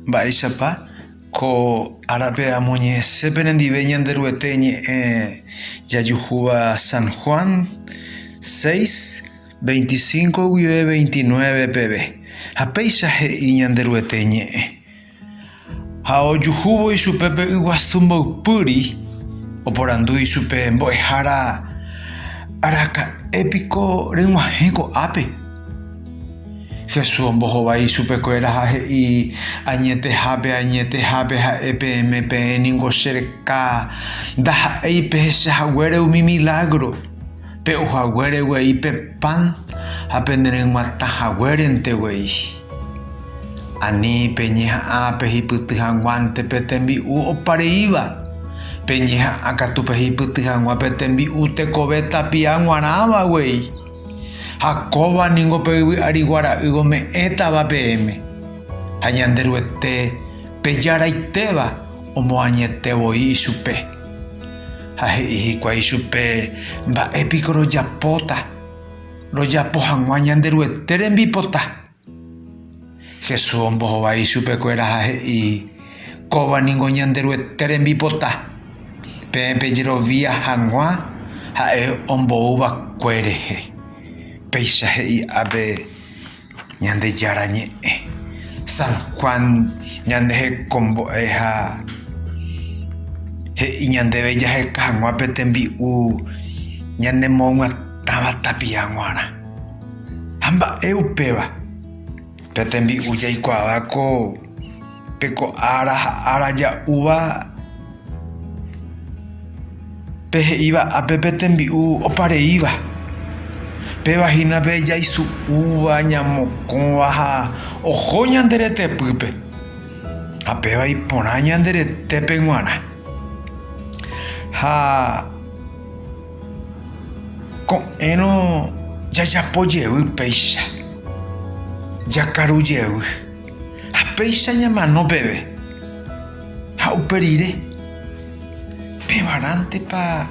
Mba'éichapa ko árape amoñe'ẽse penendive Ñanderuete ñe'ẽ jajuhúva San Juan seis, veinticinco guive veintinueve peve? Ha péicha he'i Ñanderuete ñe'ẽ, Ha ojuhúvo ichupe pe yguasu mboypýri, oporandu ichupe mbo'ehára, Araka'e piko reg̃uahẽ ko'ápe? Jesús ombohovái ichupekuéra ha he'i, Añetehápe, añetehápe ha'e peẽme, peẽ ningo che reka ndaha'éi pehecha haguére umi milágro, pe'u haguére guei pe pan ha penereg̃uatã haguérente guei. Ani peñeha'ã pehipyty hag̃uánte pe tembi'u opa reíva, peñeha'ã katu pehipyty hag̃ua pe tembi'u tekove tapia g̃uarãva guei. Ha kóva ningo pe yvy ári guara'y ome'ẽtava peẽme. Ha Ñanderuete pe Jaraitéva omoañete voi ichupe. Ha he'i hikuái ichupe, Mba'e piko rojapóta rojapo hag̃ua Ñanderuete rembipota? Jesús ombohovái ichupekuéra ha he'i, Kóva ningo Ñanderuete rembipota, peẽ pejerovia hag̃ua ha'e ombou va'ekue rehe. Péicha he'i ápe Ñandejára Ñe'ẽ. San Juan ñanehekombo'e ha he'i ñandéve jaheka hag̃ua pe tembi'u ñanemoyguatãva tapia g̃uarã. Ha mba'e upéva? Pe tembi'u jaikuaava ko pe ko ára ha ára ja'úva pe he'íva ápe pe tembi'u opa reíva. Péva hína pe jaisu'úva, ñamokõva ha oho ñande retepýpe. Ha péva iporã ñande retépe g̃uarã. Ha. Ko'ẽrõ jajapo jevy péicha, jakaru jevy, ha péicha ñamano peve. Ha upe rire, pevarãntepa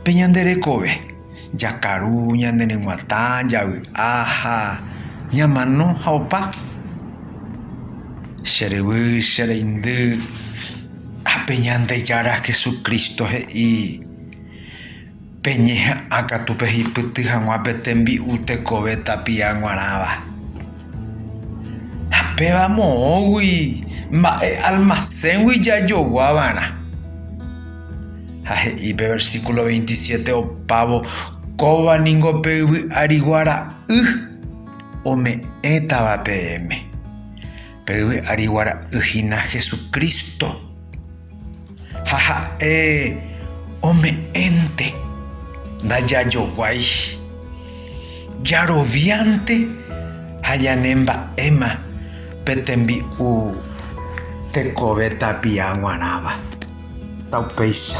pe ñande rekove, jakaru, ñane reguatã, javy'a ha ñamano ha opa. Che ryvy, che reindy, ha pe Ñandejára Jesucristo he'i, Peñeha'ã katu pehipyty hag̃ua pe tembi'u tekove tapia g̃uarãva. Ha péva moõgui mba'e almaséngui jajogua va'erã. Ha he'i pe versíkulo 27 opávo, Kóva ningo pe yvy arigua ra'y ome'ẽtava peẽme. Pe yvy arigua ra'y hína Jesucristo. Ha ha'e ome'ẽnte, Ndajajoguái. Jaroviánte ha ñane mba'éma pe tembi'u tekove tapia g̃uarãva. Taupéicha.